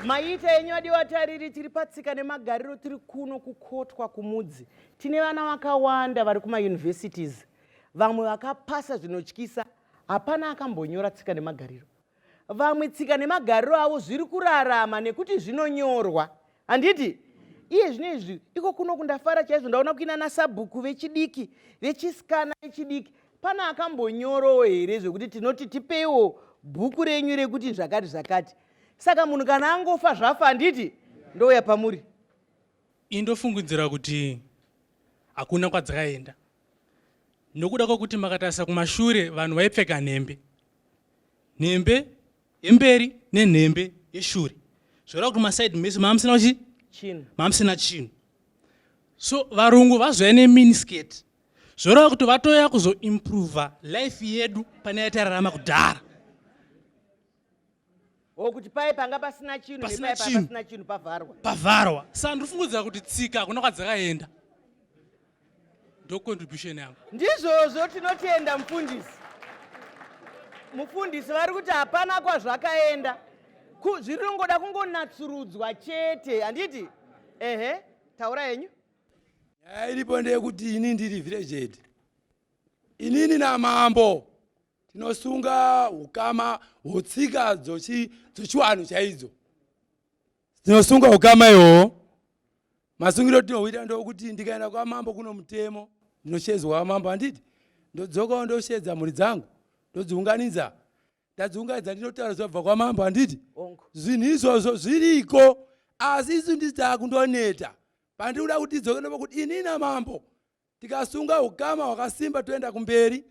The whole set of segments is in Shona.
maita enyu adi watariri tiri patsika nemagariro tiri kuno kukotwa kumudzi tine vana vakawanda vari kumauniversities vamwe vakapasa zvinotyisa hapana akambonyora tsika nemagariro vamwe tsika nemagariro avo zviri kurarama nekuti zvinonyorwa handiti iye zvino izvi iko kuno kundafara chaizvo ndaona kuina nasabhuku vechidiki vechisikana vechidiki pane akambonyorowo here zvekuti tinoti tipeiwo bhuku renyu rekuti zvakati zvakati saka munhu kana angofa zvafa handiti ndouya pamuri indofungidzira kuti hakuna kwadzakaenda nokuda kwekuti makatarisa kumashure vanhu vaipfeka nhembe nhembe yemberi nenhembe yeshure zvoreva kuti masaidi mese maamusina kuchi chinhu maamusina chinhu so varungu vazouya neminisketi zvoreva kuti vatoya kuzoimprova life yedu pane yaitararama kudhara o kuti paye panga pasina chinhu Pasina nepaye panga chinhu. pasina chinhu pavharwa pavharwa saka ndiri fungudzira kuti tsika hakuna kwadzakaenda ndo contribution yangu ndizvozvo tinotenda mufundisi mufundisi vari kuti hapana kwazvakaenda Ku- zviringoda kungonatsurudzwa chete handiti ehe taura henyu nyaya iripo ndeyekuti ini ndiri village head inini namambo tinosunga ukama hwetsika dzochiwanhu chaidzo tinosunga ukama ihoho masungiro tinohuita ndokuti ndikaenda kwamambo kuno mutemo ndinoshedzwa wamambo handiti ndodzokawo ndoshedza mhuri dzangu ndodziunganidza ndadziunganidza ndinotaura zvabva kwamambo handiti zvinhu izvozvo zviriko asi isu ndidzaku ndoneta pandikuda kuti idzoke ndopa kuti inina mambo tikasunga ukama hwakasimba toenda kumberi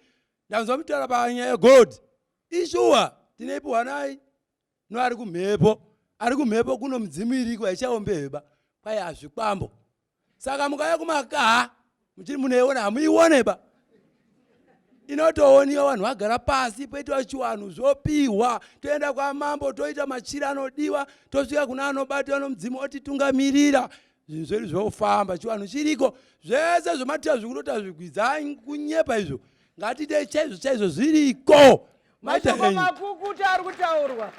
ndanzwa mutaura panyaya yegold ishuwa tineipiwa nai no ari kumhepo ari kumhepo kuno midzimu iriko haichaombeheba kwai hazvikwambo saka mukaya kumakaha muchiri munoiona hamuioneba inotooniwa vanhu vagara pasi poitwa chiwanhu zvopihwa toenda kwamambo toita machira anodiwa tosvika kuna anobatiwa nomudzimu otitungamirira zvinhu zvedu zvofamba chivanhu chiriko zvese zvomatira zvikunota zvigwidza kunyepa izvo ngatidei chaizvo chaizvo zviriko mashoko makukuta ari kutaurwa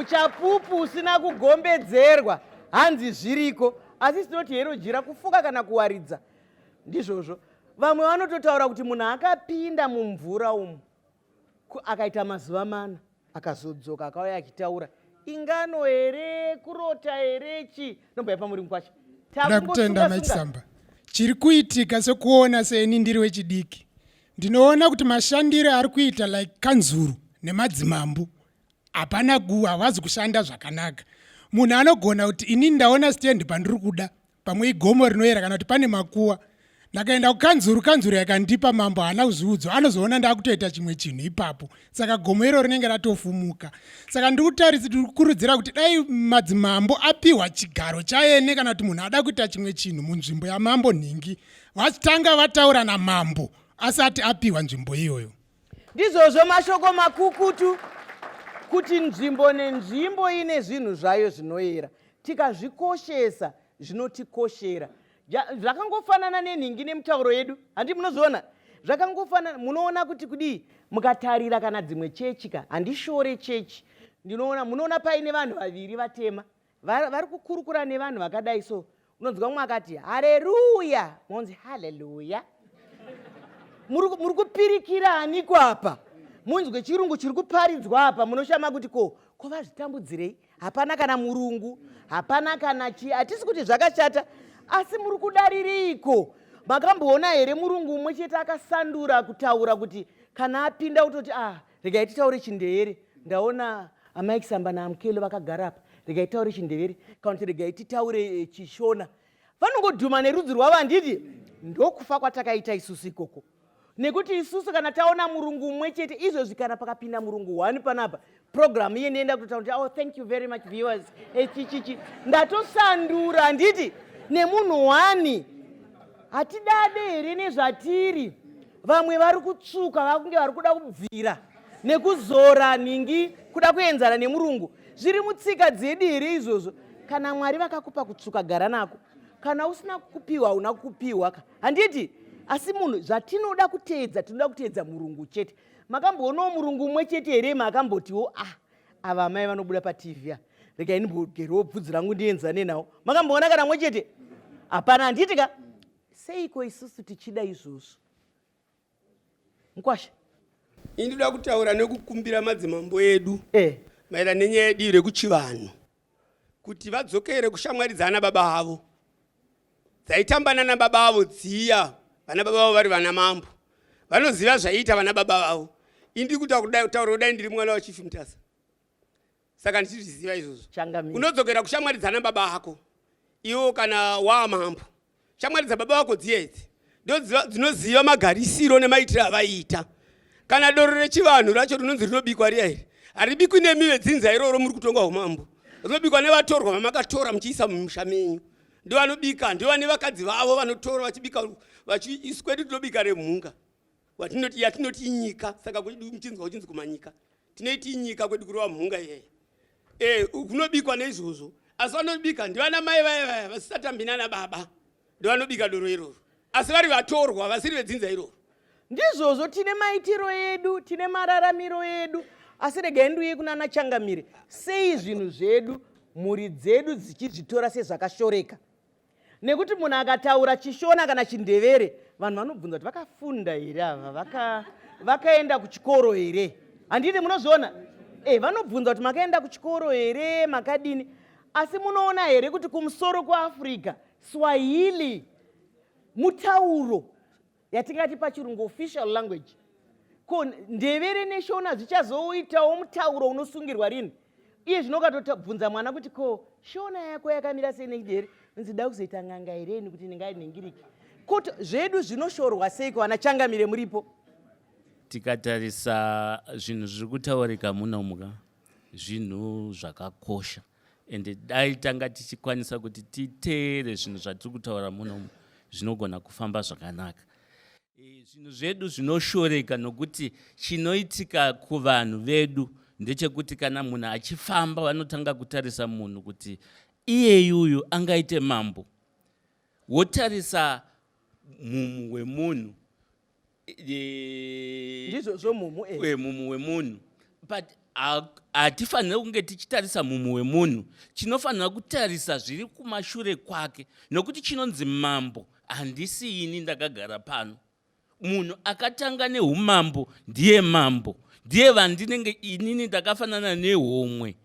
uchapupu usina kugombedzerwa hanzi zviriko asi sinoti hero jira kufuka kana kuwaridza ndizvozvo vamwe vanototaura kuti munhu akapinda mumvura umu akaita mazuva mana akazodzoka akauya achitaura ingano here kurota here chi nomba yepamuri mukwacho ndakutenda machisamba chiri kuitika sekuona seni ndiri wechidiki ndinoona kuti mashandiro ari kuita like kanzuru nemadzimambo hapana gu havazi kushanda zvakanaka munhu anogona kuti ini ndaona stand pandiri kuda pamwe igomo rinoyera kana kuti pane makuwa ndakaenda kukanzuru kanzuru yakandipa mambo haana kuzviudzwa anozoona ndakutoita chimwe chinhu ipapo saka gomo iro rinenge ratofumuka saka ndiri kutaridza tiri kukurudzira kuti dai madzimambo apiwa chigaro chaene kana kuti munhu ada kuita chimwe chinhu munzvimbo yamambo nhingi vachitanga vataura namambo asati apiwa nzvimbo iyoyo ndizvozvo mashoko makukutu kuti nzvimbo nenzvimbo ine zvinhu zvayo zvinoyera tikazvikoshesa zvinotikoshera zvakangofanana nenhingi nemutauro yedu handi munozviona zvakangofanana munoona kuti kudii mukatarira kana dzimwe chechi ka handishore chechi ndinoona munoona paine vanhu vaviri vatema vari kukurukura nevanhu vakadai so unonzwa mumwe akati hareruya monzi haleluya muri kupirikira aniko apa munzwe chirungu chiri kuparidzwa apa munoshama kuti ko ko vazvitambudzirei hapana kana murungu hapana kana chi hatisi kuti zvakashata asi muri kudarireiko makamboona here murungu umwe chete akasandura kutaura kuti kana apinda utoti ah regai titaure chindevere ndaona amai kisamba naamukelo vakagara apa regai titaure chindevere kana kuti regai titaure eh, chishona vanongodhuma nerudzi rwavo handiti ndokufa kwatakaita isusu ikoko nekuti isusu kana taona murungu umwe chete izvozvi kana pakapinda murungu one panapa programu iye ndienda kutotaura kuti oh thank you very much viewers echichichi eh, ndatosandura handiti nemunhu wani hatidade here nezvatiri vamwe vari kutsvuka vakunge vari kuda kubvira nekuzora nhingi kuda kuenzana nemurungu zviri mutsika dzediri izvozvo kana mwari vakakupa kutsvuka gara nako kana usina kupiwa hauna kupiwa ka handiti asi munhu zvatinoda kuteedza tinoda kuteedza murungu chete makamboonawo murungu umwe chete here maakambotiwo a ah, ava amai vanobuda patv a regai ndimbogerewo bvudzi rangu ndienzane nawo makamboona kana mwe chete hapana handiti ka seiko isusu tichida izvozvo mkwasha ini ndoda kutaura nekukumbira madzimambo edu eh. maererano nenyaya yedii rekuchivanhu kuti vadzokere kushamwari dzaana baba avo dzaitamba nana baba avo dziya vana baba vavo vari vana mambo vanoziva zvaiita vana baba vavo indiri kuta kutaura kudai ndiri mwana wachifi mutasa saka ndichizviziva izvozvo Changamire. unodzokera kushamwari dzana baba ako iwo kana waa mambo shamwari dzababa vako dziya idzi ndodziva- dzinoziva magarisiro nemaitiro avaiita kana doro rechivanhu racho rinonzi rinobikwa riya iri haribikwi nemi vedzinza iroro muri kutonga umambo rinobikwa nevatorwa vamakatora muchiisa mumusha menyu ndivanobika ndivane vakadzi vavo vanotora vachibika vachiisu kwedu tinobika remhunga watinoti yatinoti inyika saka kuchinzwa kuchinzi kumanyika tinoiti inyika kwedu kurova mhunga iyeya e eh, kunobikwa neizvozvo asi vanobika ndivana mai vaya vaya vasisatambi nana baba ndivanobika doro iroro asi vari vatorwa vasiri vedzinza iroro ndizvozvo tine maitiro edu tine mararamiro edu asi regai ndiuye kunana changamire sei zvinhu zvedu mhuri dzedu dzichizvitora sezvakashoreka nekuti munhu akataura chishona kana chindevere vanhu vanobvunza kuti vakafunda here ava vaka, vakaenda kuchikoro here handiti munozviona e vanobvunza kuti makaenda kuchikoro here makadini asi munoona here kuti kumusoro kweafrica swahili mutauro yatingati pachirungu official language ko ndevere neshona zvichazoitawo mutauro unosungirwa rini iye zvino ukatobvunza mwana kuti ko shona yako yakamira sei nekuti here nzi da kuzoita n'anga here ini kuti ndingai nhingiriki kut zvedu zvinoshorwa seiko vana changamire muripo tikatarisa zvinhu zviri kutaurika munomuka zvinhu zvakakosha and dai tanga tichikwanisa kuti titeere zvinhu zvatiri kutaura munomu zvinogona kufamba zvakanaka e, zvinhu zvedu zvinoshoreka nokuti chinoitika kuvanhu vedu ndechekuti kana munhu achifamba vanotanga kutarisa munhu kuti iyeyuyu angaite mambo wotarisa mumhu wemunhu ndizvo zvo mumhu e mumhu wemunhu but hatifanire kunge tichitarisa mumhu wemunhu chinofanira kutarisa zviri kumashure kwake nokuti chinonzi mambo handisi ini ndakagara pano munhu akatanga neumambo ndiye mambo ndiye vandinenge inini ndakafanana nehomwe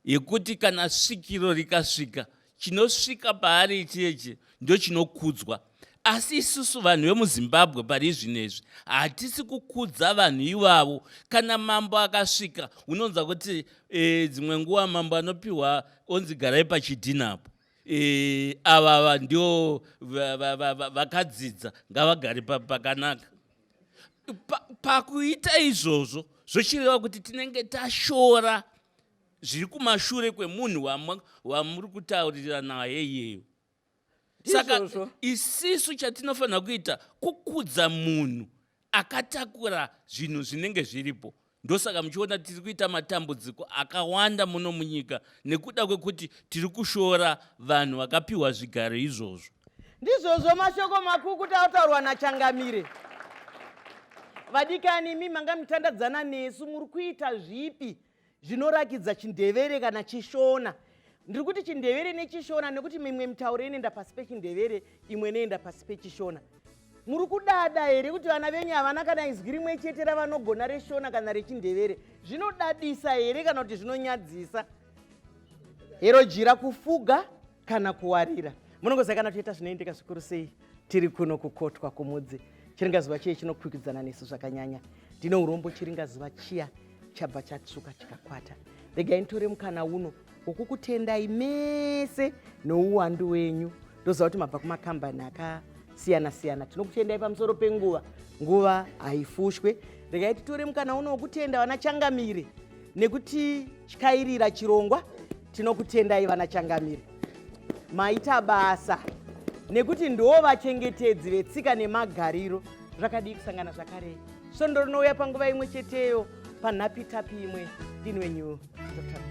yekuti kana svikiro rikasvika chinosvika paari icheche ndochinokudzwa asi isusu vanhu vemuzimbabwe pari zvino izvi hatisi kukudza vanhu ivavo kana mambo akasvika unonza kuti e, dzimwe nguva mambo anopiwa onzi garai pachidhina apo e, avava ndio vakadzidza va, va, va, ngavagari pakanaka pakuita pa izvozvo zvochireva kuti tinenge tashora zviri kumashure kwemunhu wamuri kutaurira naye iyeyo saka isisu chatinofanira kuita kukudza munhu akatakura zvinhu zvinenge zviripo ndosaka muchiona tiri kuita matambudziko akawanda muno munyika nekuda kwekuti tiri kushora vanhu vakapiwa zvigaro izvozvo ndizvozvo mashoko makukuta ataurwa nachangamire vadikani imi manga mitandadzana nesu muri kuita zvipi zvinorakidza chindevere kana chishona ndiri kuti chindevere nechishona nekuti mimwe mitauro inoenda pasi pechindevere imwe inoenda pasi pechishona muri kudada here kuti vana venyu havana kana izwi rimwe chete ravanogona reshona kana rechindevere zvinodadisa here kana kuti zvinonyadzisa hero jira kufuga kana kuwarira munongoziva kana toita zvinoendeka zvikuru sei tiri kuno kukotwa kumudzi chiringazuva chiye chinokwikwidzana nesu zvakanyanya ndine urombo chiringazuva chiya chabva chatsvuka chikakwata regai nditore mukana uno wokukutendai mese nouwandu wenyu ndoziva kuti mabva kumakambani akasiyana siyana tinokutendai pamusoro penguva nguva haifushwe regai titore mukana uno wokutenda vana changamire nekuti tyairira chirongwa tinokutendai vana changamire maita basa nekuti ndoo vachengetedzi vetsika nemagariro zvakadii kusangana zvakarei svondo rinouya panguva imwe cheteyo panhapitapi imwe ndini wenyu dr